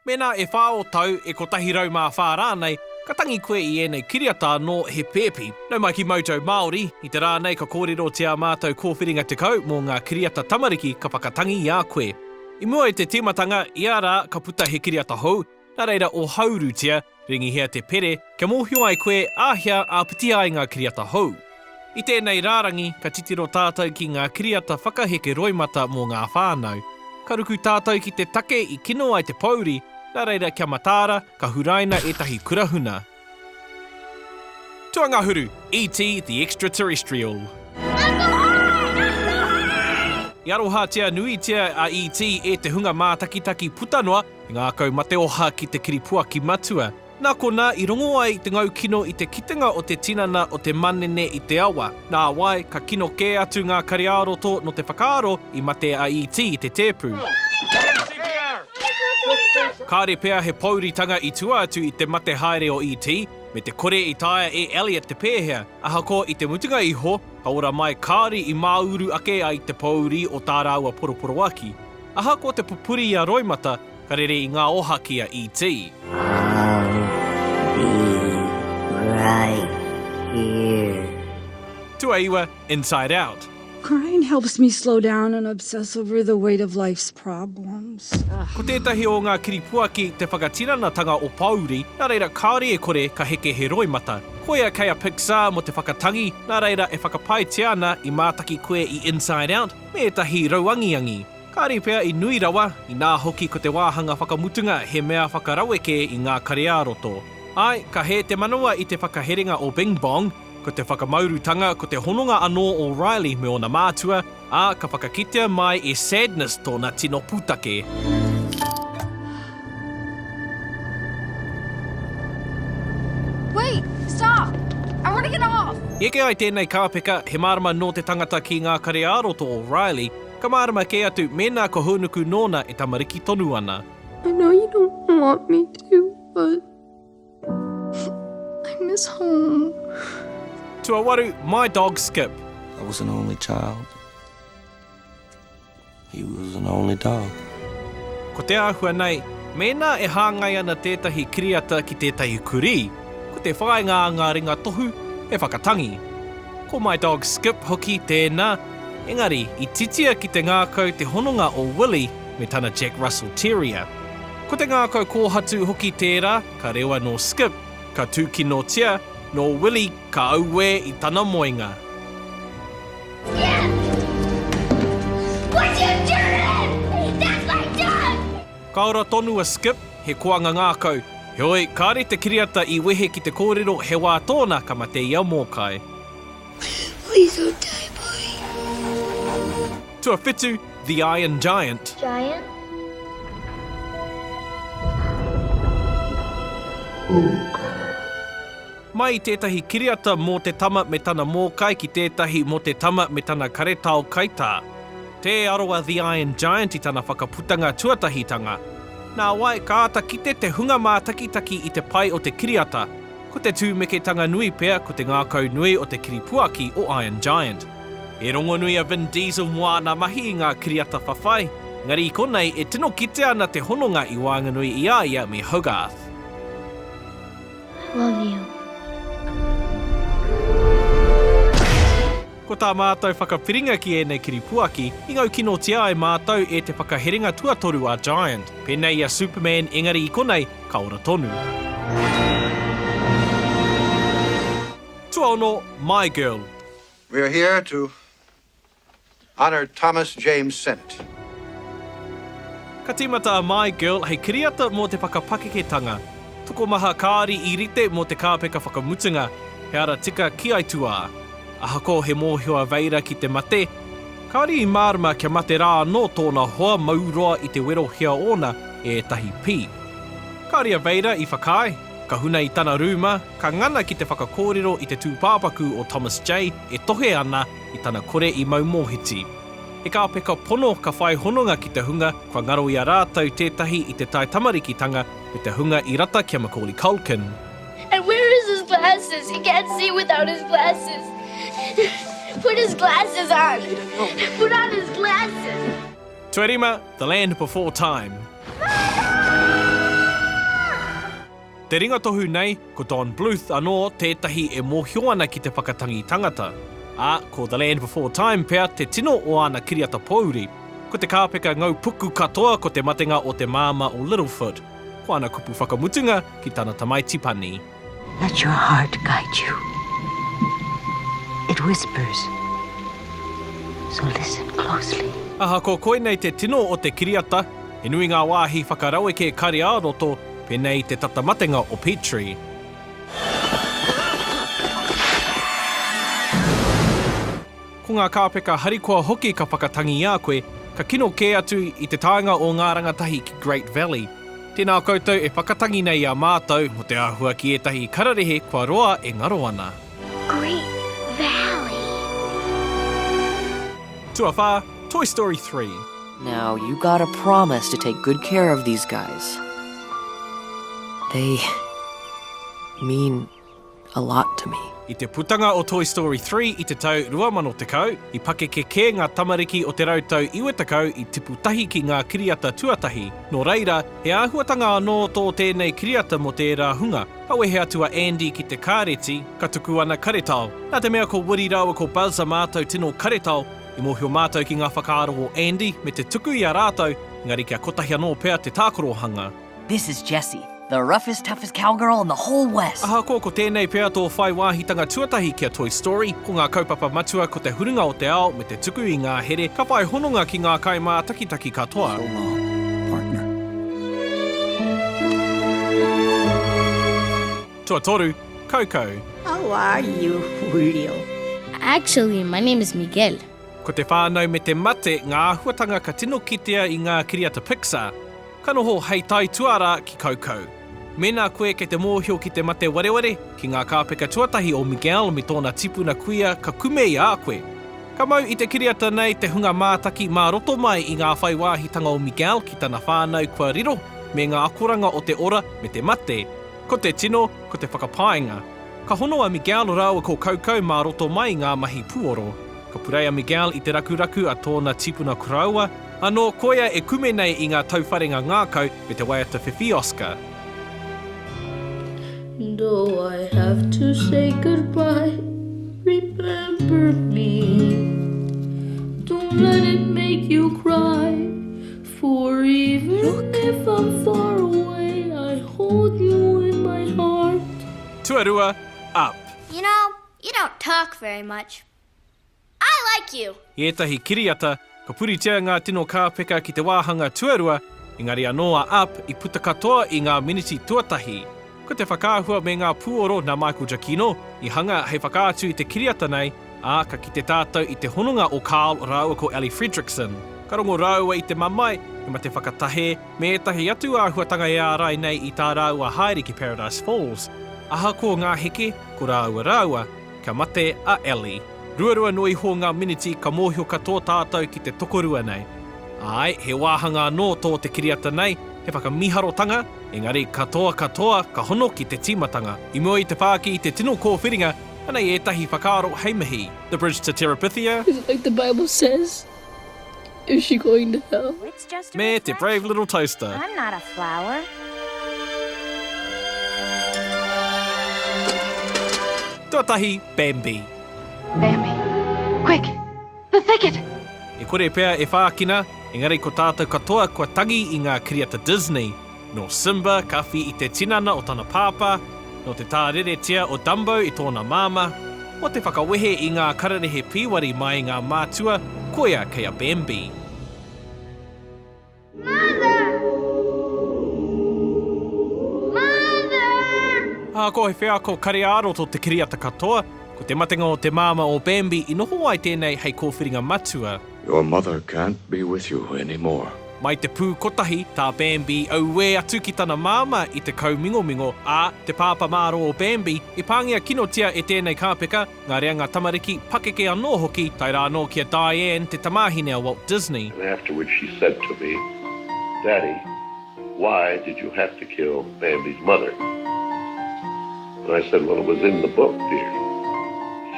Mēnā e whā ō tau, e kotahi rau mā whā rānei, ka tangi koe i ēnei kiriata anō he pēpi. Nau mai ki Mojo Māori, i te rā nei ka kōrerotia mātou kōwhiringa 10 mō ngā kiriata tamariki ka whakatangi i a koe. I mua i te tīmatanga, ia rā ka puta he kiriata hou, nā reira ohaurutia, Ringihia te pere kia mōhio ai koe āhea āpiti ai ngā kiriata hou. I tēnei rārangi, ka titiro tātou ki ngā kiriata whakaheke roimata mō ngā whānau. Ka ruku tātou ki te take i kino ai te pōuri, nā reira kia mataara, ka huraina ētahi kura huna. Tuangahuru, ET the Extraterrestrial. I arohatia nuitia a ET e te hunga mātakitaki puta noa, I ngākau mateoha ki te kiripuaki matua. Nā konā i rongo ai te ngau kino i te kitenga o te tinana o te manene i te awa. Nāwai, ka kino kē atu ngā kariāroto nō te whakaaro i mate a ET i te tēpu. Kāre pea he pōuritanga i tua atu i te mate haere o ET, me te kore i taea e Elliot te pēhea. Ahakoa i te mutunga iho, ka ora mai kāore i māuru ake ai te pōuri o tā rāua poroporoaki. Ahakoa te pupuri i a Roimata, ka rere i ngā oha ki a ET. Tuaiwa, Inside Out. Crying helps me slow down and obsess over the weight of life's problems. Ko tētahi o ngā kiripuaki te whakatiranatanga o pōuri, nā reira kāore e kore ka heke he roimata. Koia kei a Pixar mō te whakatangi, nā reira e whakapaetia ana i mātaki koe i Inside Out, me ētahi rauangiangi, kāre pea i nui rawa, inā hoki ko te wāhanga whakamutunga he mea whakaraweke i ngā kare-ā-roto. Āe, ka hē te manawa i te whakaherenga o Bing Bong, ko te whakamaurutanga ko te hononga anō o Riley me ōna mātua, ā, ka whakakitea mai e Sadness tōna tino pūtake. Wait! Stop! I want to get off! Eke ai tēnei kāpeka, he mārama nō te tangata ki ngā kare-ā-roto o Riley, ka mārama kē atu mēnā ka hōnuku nōna e tamariki tonu ana. I know you don't want me to, but I miss home. Tuawaru, My dog Skip. I was an only child. He was an only dog. Ko te āhua nei, mēnā e hāngai ana tētahi kiriata ki tētahi kurī, ko te whāinga a ngā ringa tohu he whakatangi. Ko My Dog Skip hoki tēnā, engari i titia ki te ngākau te hononga o Willy me tana Jack Russell Terrier. Ko te ngākau kōhatu hoki tērā, ka rewa nō Skip, ka tūkinotia nō Willy. Ka auē i tana moenga. Ka ora tonu a Skip, he koanga ngākau. Heoi, kāre te kiriata i wehe ki te kōrero he wā tōna ka mate i a Mōkai. Tuawhitu, The Iron Giant. Mai i tētahi kiriata mō te tama me tana mōkai ki tētahi mō te tama me tana karetao kaitā. Tē aro a The Iron Giant i tana whakaputanga tuatahitanga. Nā wai, ka āta kite te hunga mātakitaki i te pai o te kiriata, ko te tūmeketanga nui pea ko te ngākau nui o te kiripuaki o Iron Giant. He rongonui a Vin Diesel mō āna mahi i ngā kiriata whawhai, engari i konei e tino kitea ana te hononga i waenganui i a ia me Hogarth. Love you. Ko tā mātou whakapiringa ki ēnei kiripuaki, i ngaukinotia ai mātou e te whakaherenga tuatoru a Giant, pēnei i a Superman engari i konei ka ora tonu. Tuaono, My Girl. We are here to Honour Thomas James Sent. Ka tīmata a My Girl hei kiriata mō te whakapakeketanga. Tokomaha kāri i rite mō te kāpeka whakamutunga, he ara tika ki aituā. Ahakoa he mōhio a Veira ki te mate, kāore i mārama kia mate rā anō tōna hoa mau roa i te werohia ōna e ētahi pī. Kāore a Veira i whakaae, ka huna i tana rūma, ka ngana ki te whakakōrero i te tūpāpaku o Thomas J e tohe ana, i tana kore i mau mōhiti. He kāpeka pono ka whai hononga ki te hunga kua ngaro i a rātou tētahi i te taitamarikitanga me te hunga i rata ki a Macaulay Culkin. And where is his glasses? He can't see without his glasses. Put his glasses on. Put on his glasses. Tuarima, The Land Before Time. Mama! Te ringatohu nei, ko Don Bluth anō tētahi e mōhio ana ki te whakatangi tangata, ā, ko The Land Before Time pea te tino o āna kiriata pōuri. Ko te kāpeka ngau puku katoa ko te matenga o te māmā o Littlefoot, ko ana kupu whakamutunga ki tana tamaiti panī. Let your heart guide you, it whispers, so listen closely. Ahakoa koinei te tino o te kiriata, he nui ngā wāhi whakaraweke kare ā-roto, Pēnei te tata matenga o Petrie. Ko ngā kāpeka harikoa hoki ka whakatangi i a koe, ka kino kē atu i te taenga o ngā rangatahi ki Great Valley. Tēnā koutou e whakatangi nei i a mātou mō te āhua ki ētahi kararehe kua roa e ngaro ana. Great Valley. Tuawhā, Toy Story 3. Now you gotta promise to take good care of these guys. They mean a lot to me. I te putanga o Toy Story 3 i te tau 2010, i pakeke kē ngā tamariki o te rau tau 90 i tipu tahi ki ngā kiriata tuatahi, nō reira, he āhuatanga anō tō tēnei kiriata mō tērā hunga. Ka wehe atu a Andy ki te kāreti, ka tuku ana karetao. Nā te mea ko Woody rāua ko Buzz a mātou tino karetao, I mōhio mātou ki ngā whakaaro o Andy me te tuku i a rātou, engari kia kotahi anō pea te tākorohanga. This is Jessie, the roughest toughest cowgirl in the whole west! Ahakoa ko tēnei pea tō whai wāhitanga tuatahi ki a Toy Story, ko ngā kaupapa matua ko te huringa o te ao me te tuku i ngā here ka whai hononga ki ngā kaimātakitaki katoa. So long, partner. Tuatoru, Kaukau. How are you, Julio? Actually, my name is Miguel. Ko te whānau me te mate ngā āhuatanga ka tino kitea i ngā kiriata Pixar. Ka noho hei tai tuarā ki Kaukau. Mēnā koe kei te mōhio ki te mate wareware, ki ngā kāpeka tuatahi o Miguel me tōna tipuna kuia ka kume i a koe. Ka mau i te kiriata nei te hunga mātaki mā roto mai i ngā whai wāhitanga o Miguel ki tana whānau kua riro, me ngā akoranga o te ora me te mate. Ko te tino, ko te whakapaenga. Ka hono a Miguel rāua ko Kaukau mā roto mai i ngā mahi puoro. Ka purei a Miguel i te rakuraku a tōna tipuna koroua, anō koia e kume nei i ngā tauwharenga ngākau me te waiata whiwhi Oscar. Do I have to say goodbye Remember me Don't let it make you cry For even if I'm far away I hold you in my heart. Tuarua, up. You know, you don't talk very much. I like you! I ētahi kiriata, ka puritia ngā tino kāpeka ki te wāhanga tuarua, engari anō a up i puta katoa i ngā miniti tuatahi. Ko te whakaahua me ngā pūoro nā Michael Giacchino i hanga hei whakaatu i te kiriata nei, ā, ka kite tātou i te hononga o Carl rāua ko Elly Fredrickson. Ka rongo rāua i te mamae, te mate whakatahē, me ētahi atu āhuatanga e ārai nei i tā rāua haere ki Paradise Falls. Ahakoa ngā heke, ko rāua rāua. Ka mate a Ellie. Ruarua noa iho ngā miniti ka mōhio katoa tātou ki te tokorua nei. Āe, he wāhanga anō tō te kiriata nei, he whakamīharotanga, engari katoa katoa ka hono ki te tīmatanga. I mua i te whāki i te tino kōwhiringa, anei ētahi whakaaro hei mihi. The Bridge to Terabithia. It's like the Bible says. Is she going to hell? Me te Brave Little Toaster. I'm not a flower. Tuatahi, Bambi. Bambi. Quick! The thicket! E kore pea e whākina, engari ko tātou katoa kua tangi i ngā kiriata Disney. Nō Simba ka whi i te tinana o tana pāpā, nō te tāreretia o Dumbo i tōna māmā, mō te whakawehe i ngā kararehe pīwari mai ngā mātua, koia kei a Bambi. Ā, ko he wheako kare-ā-roto te kiriata katoa, ko te matenga o te māmā o Bambi i noho ai tēnei hei kōwhiringa matua. Your mother can't be with you anymore. Mai te pū kotahi, tā Bambi auē atu ki tana māmā i te kaumingomingo, ā, te pāpā mārō o Bambi, i pāngia kinotia e tēnei kāpeka, ngā reanga tamariki, pakeke anō hoki, tae rā anō ki a Diane, te tamāhine a Walt Disney. And afterwards she said to me, Daddy. Why did you have to kill Bambi's mother? And I said, well it was in the book dear.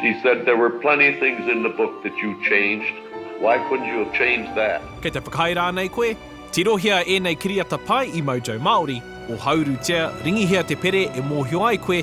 She said, there were plenty things in the book that you changed, why couldn't you have changed that? Kei te whakaae rānei koe? Tirohia ēnei kiriata pai i Mojo Māori, ohaurutia, ringihia te pere e mōhio ai koe,